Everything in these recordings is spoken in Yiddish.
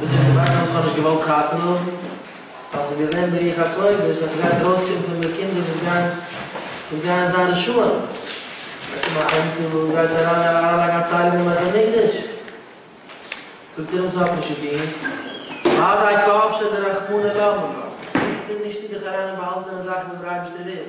דאס איז די סיבה פארוואס איך האב נישט געוואלט חתונה האבן, ווייל איך האב געזען ברוח הקודש אז ס'גייט ארויסקומען פון מיר קינדער וואס גייען וואס גייען זיין רשעים, וועט קומען א אמתע וואס גייט אריין אריינלייגן א ציילונג אין בית המקדש. זאגט ער אים ס'האט נישט צו טון, אודאי כאפ ש דרחמנא למה לא, וואס פון וואו שטופט דיך אריין אין באהאלטענע זאכן וואס דער אייבערשטער וויל?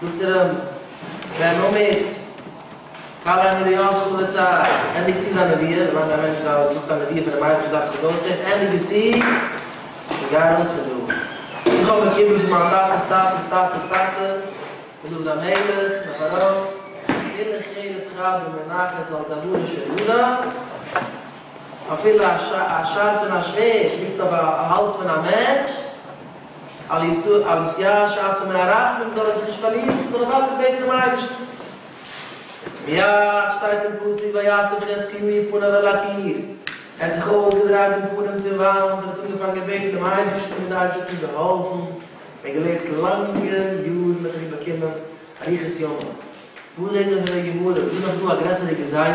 זאגט ער אים, ווען אומץ, קל עני דיו זכור לצער, ענדיג צו דיין נביאה, ווילאנג א מענטש דארף זאגט א נביאה פונעם אייבערשטן דארף איך עס אויסהערן, ענדיג עס צו, און גיי ארויס פון דא. איך האב באקומען פון מיין טאטע'ס טאטע'ס טאטע'ס טאטע, פון דוד המלך און אויף ארויף, אין אין חרב חרבה מונחת אלס א בורו של יהודה, אפילו א שארפען א שווערד ליגט אויף א האלז פון א מענטש, על ישראל על ישראל שאצו מהרחמים זאל ער זיך נישט פארלירן, זאל ער ווייטער בעטן דעם אייבערשטן. מיד שטייט אין פסוק ויאסף חזקיהו איר פניו אל הקיר, ער האט זיך אויסגעדרייט דעם פנים צום וואנט און האט אנגעפאנגען בעטן דעם אייבערשטן און דער אייבערשטער האט אים געהאלפן, ער האט געלעבט לאנגע יארן האט ער אים באקומען אריכות ימים, וואס זעט מען פון דער גמרא, איז נאך דא א גרעסערע גזירה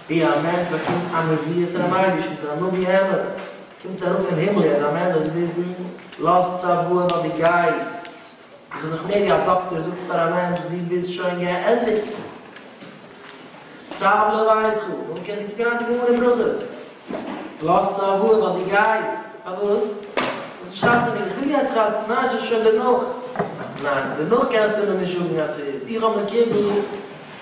ווי א מענטש באקומט א נביאה פונעם אייבערשטן, פון א נביא אמת, קומט אראפ פון הימל אז א מען דאס וויסן לאזט צבוע נאר די גייסט, דאס איז דאך מער ווי א דאקטער זאגט פאר א מענטש דו ביסט שוין געענדיגט צב ל ווייס כו, דאן קען די קוקן אויף די גמרא אין ברכות לאזט צבוע נאר די גייסט, פארוואס? דאס איז חתונה, איך וויל יעצט חתונה, ניין עס איז שוין דערנאך, ניין דערנאך קענסטו מיר נישט זאגן אז ס'איז, איך האב מקיבל.